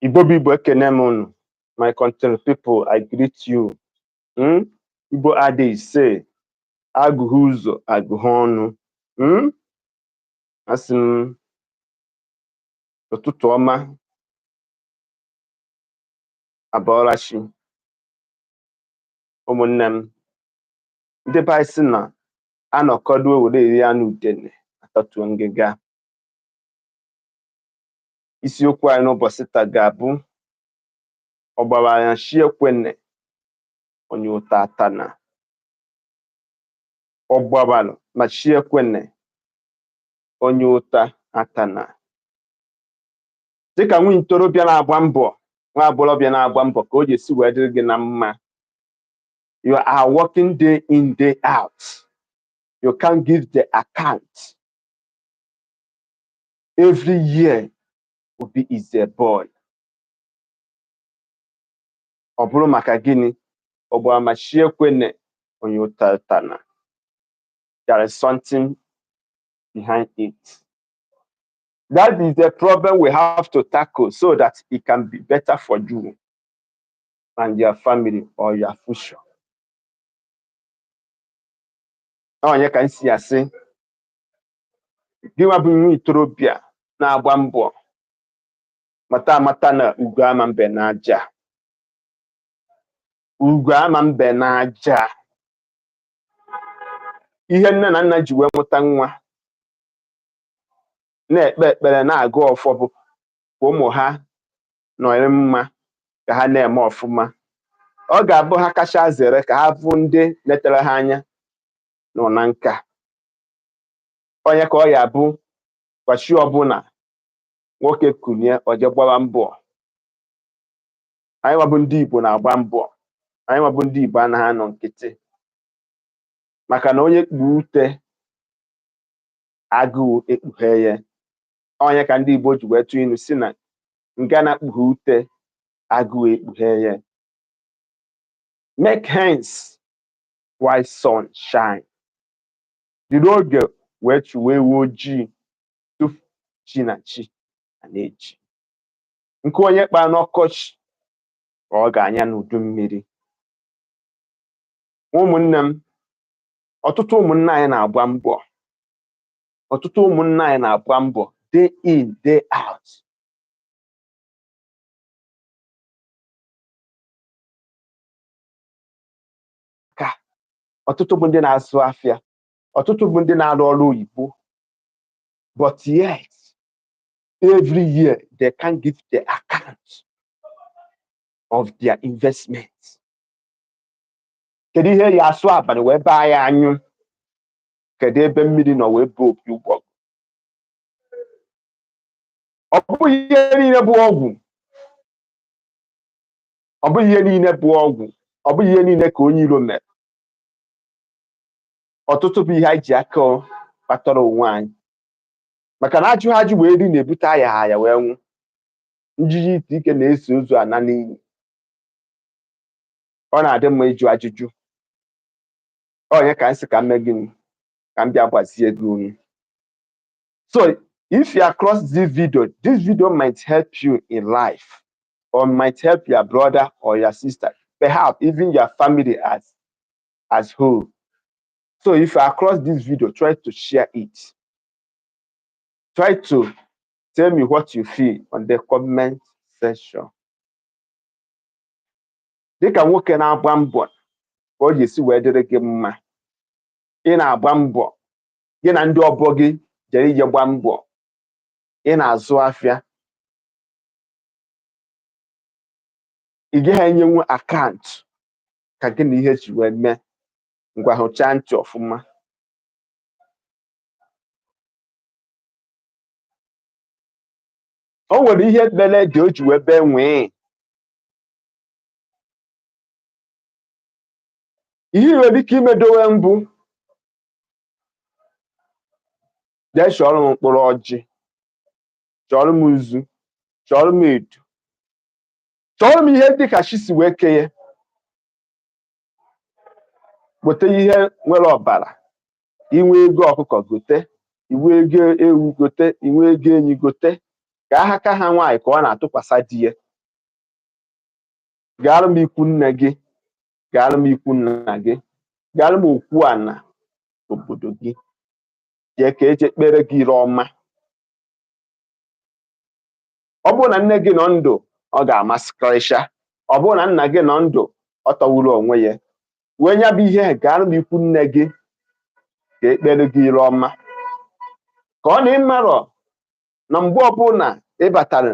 Igbo bụ Igbo ekene m unu my country people I greet you hmm? Igbo adịghị ise agụghị ụzọ agụghị ọnụ hmm? asị m ụtụtụ ọma abọọla chi ụmụnne m ndị be anyị sị na anọkọdo were eri anụ udene atọtuo ngịga isiokwu anyị n'ụbọchị taa ga-abụ ọ gbabara ma chi ekwene onye ụta atana ọ gbabalụ ma chi ekwene onye ụta atana dịka nwa ntorobịa na-agba mbọ nwa agbọghọbịa na-agba mbọ ka ọ ya-esi wee dịrị gị na mma you are working day in day out you can't give the account every year Obi is a boy ọ bụrụ maka gịnị ọ gbara ma chi ekwene onye ụta atana there is something behind it that is the problem we have to tackle so that it can be better for you and your family or your future ọ nya ka m ji asị gịnwa bụ nwa itorobịa na-agba mbọ mata amata na ugo ama mbe n'aja ugo ama mbe n'aja ihe nne na nna ji wee mụta nwa na-ekpe ekpere na-agọ ọfọ bụ ka ụmụ ha nọrị mma ka ha na-eme ọfụma ọ ga-abụ ha kacha zere ka ha bụ ndị netere ha anya nọ na nka ọ nya ka ọ ya-abụ kwa chi ọbụla nwoke kunie o je gbaba mbọ anyị nwa bụ ndị Igbo na-agba mbọ anyị nwa bụ ndị Igbo anaghị anọ nkịtị maka na onye kpuo ute agụụ ekpughe ya ọ nya ka ndị Igbo ji wee tụọ inu sị na ngana kpuo ute agụụ ekpughe ya make haste while sun shine Jiri oge wee chụwa ewu ojii tupu chi na chi a na-eji. Nkụ onye kpaa n'ọkọchị ka ọ ga-anya n'udu mmiri. Ụmụnne m, ọtụtụ ụmụnna anyị na-agba mbọ ọtụtụ ụmụnna anyị na-agba mbọ day in day out ka ọtụtụ bụ ndị na-azụ afịa ọtụtụ bụ ndị na-arụ ọrụ oyibo but yet every year they can give the account of their investment kedu ihe ya asụ abana wee baa ya anyụ kedu ebe mmiri nọ wee baa opi ụgbọgụrụ ọ bụghị ihe niile bụ ọgwụ ọ bụghị ihe niile bụ ọgwụ ọ bụghị ihe niile ka onye iro mere ọtụtụ bụ ihe anyị ji aka kpatara onwe anyị maka na ajụghị ajụ wee ri na-ebute ayaha aya wee nwụ njiji ntị ike na-eso ozu ana n'ili ọ na-adị mma ịjụ ajụjụ onye ka m sị ka m mee gịnị ka m bịa gwazie gị ihe So if you are across this video, this video might help you in life or might help your brother or your sister, perhaps even your family as as whole. So if you are across this video, try to share it. Try to tell me what you feel on the comment section. Dịka nwoke na-agba mbọ ka ọ ga-esi wee dịrị gị mma, ị na-agba mbọ gị na ndị ọgbọ gị jere ije gba mbọ ị na-azụ afịa ị gaghị enyenwu akaụntụ ka gị na ihe ji wee mee ngwa hụchaa ntị ọfụma o nwere ihe mere ede o ji wee bee nwii ihe i nwere ike imedowe mbụ jee chọọrọ m mkpụrụ ọjị chọọrọ m nzu chọọrọ m edo chọọrọ m ihe dịka chi si wee kenye gote ihe nwere ọbara i nwee ego ọkụkọ gote i nwee ego ewu gote i nwee ego ehi gote ka aka ha nwaanyị ka ọ na-atụkwasị di ya gaara m ikwu nne gị gaara m ikwu nna gị gaara m okwu ana obodo gị jee ka e je kpeere gị ire ọma ọ bụrụ na nne gị nọ ndụ ọ ga-amasịkarịcha ọ bụrụ na nna gị nọ ndụ ọ tọwuru onwe ya wee nya bụ ihe gaara m ikwu nne gị ka e kpeere gị ire ọma ka ọ na ị marọ na mgbe ọbụla ị batara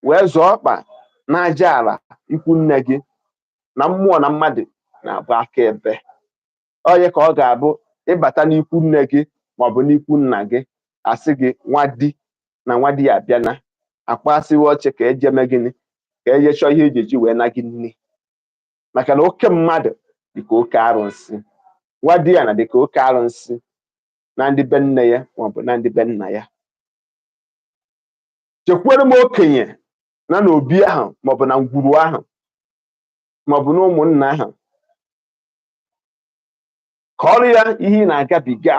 wee zọọ ọkpa n'aja ala ikwu nne gị na mmụọ na mmadụ na-abụ aka ebe onye ka ọ ga-abụ ị bata n'ikwu nne gị maọbụ n'ikwu nna gị a sị gị nwadiana nwadiana abịana a kpasịwa oche ka e je mee gịnị ka e je chọọ ihe eji eji wee na gị nne maka na oke mmadụ dịka oke arụsị nwadiana dịka oke arụsị na ndị be nne ya maọbụ na ndị be nna ya jekwuru m okenye nọ n'obi ahụ maọbụ na ngwuru ahụ maọbụ na ụmụnna ahụ kọọrọ ya ihe ị na-agabiga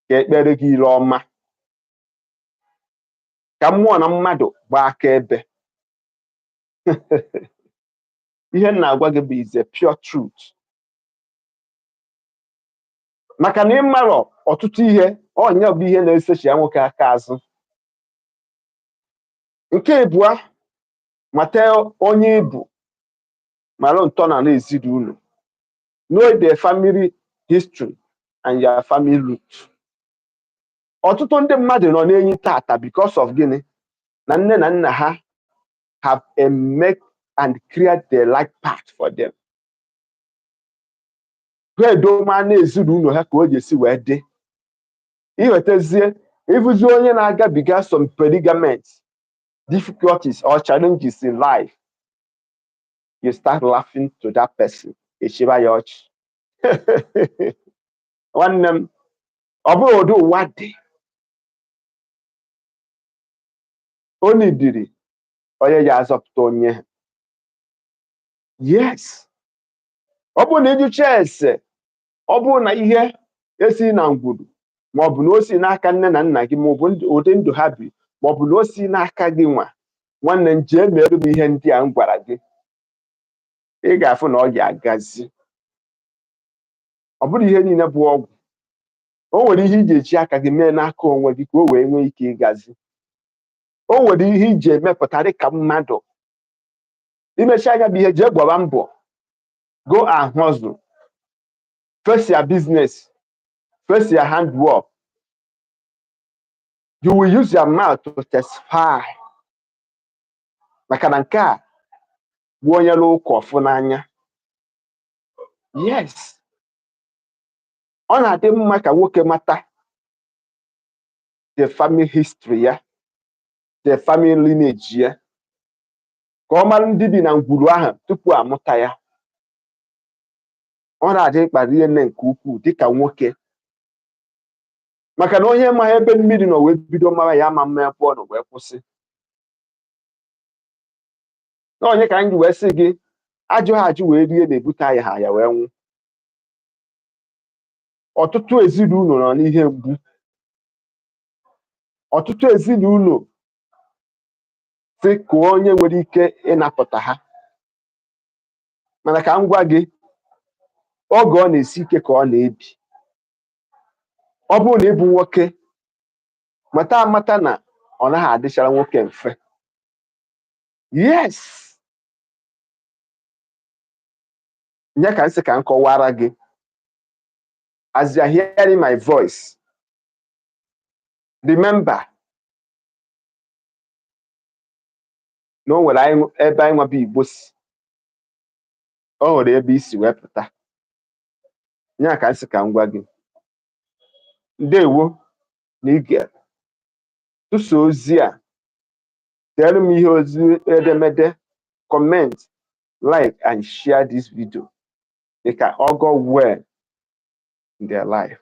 ka e kpeere gị ile ọma ka mmụọ na mmadụ gbaa akaebe ihe m na-agwa gị bụ is a pure truth maka na ị marọ ọtụtụ ihe ọ nya bụ ihe na-esechia nwoke aka azụ nke ịbụa mata onye ị bụ mara ntọala ezinụlọ know the family history and your family root ọtụtụ ndị mmadụ nọ n'enyi taata because of gịnị na nne na nna ha haven't make and create the right path for them ha edoma na ezinụlọ ha ka o ji esi wee dị iwetazie ị fụzi onye na-agabiga some predicament difficulties or challenges in life you start laughing to that person ị chịba ya ọchị nwanne m ọ bụrụ ụdị ụwa dị onye dịrị onye ya-azọpụta onye yes ọ bụrụ na ị jụchaa ese ọ bụrụ na ihe a si na ngwuru ma ọ bụ na o si n'aka nne na nna gị ma ọ bụ ụdị ndụ ha bi ma ọ bụ na o si n'aka gị nwa nwanne m jee meere m ihe ndị a m gwara gị ị ga-afụ na ọ ga-agazi ọ bụrọ ihe niile bụ ọgwụ o nwere ihe ị ga-eji aka gị mee n'aka onwe gị ka o wee nwee ike ịgazi o nwere ihe ị ga-emepụta dị ka mmadụ i mechaa nya bilie jee gbaba mbọ go and hustle face your business face your handwork you will use your mouth to testify maka na nke a bụ onye rụa ụka ọ fụ n'anya yes ọ na-adị mma ka nwoke mata the family history ya the family lineage ya ka ọ mara ndị bi na ngwuru ahụ tupu amụta ya ọ na-adị mkpa rie nne nke ukwuu dịka nwoke maka na onye amaha ebe mmiri nọ wee bido mara ya ama ama ebe ọ nọ wee kwụsị na ọ nya ka m ji wee sị gị ajụha ajụ wee rie na-ebute ayaha aya wee nwụ ọtụtụ ezinụlọ nọ n'ihe mgbu ọtụtụ ezinụlọ si kụọ onye nwere ike ịnapụta ha mana ka m gwa gị oge ọ na-esi ike ka ọ na-ebi ọ bụrụ na ị bụ nwoke mata amata na ọ naghị adịchara nwoke mfe yes nya ka m sị ka m kọwara gị as you are hearing my voice remember na o nwere ebe anyị nwa bụ Igbo si o nwere ebe i si wee pụta ya ka m sị ka m gwa gị ndewo na i gere tụsaa ozi a deere m ihe ozi edemede comment like and share this video dịka ọgọ well in their life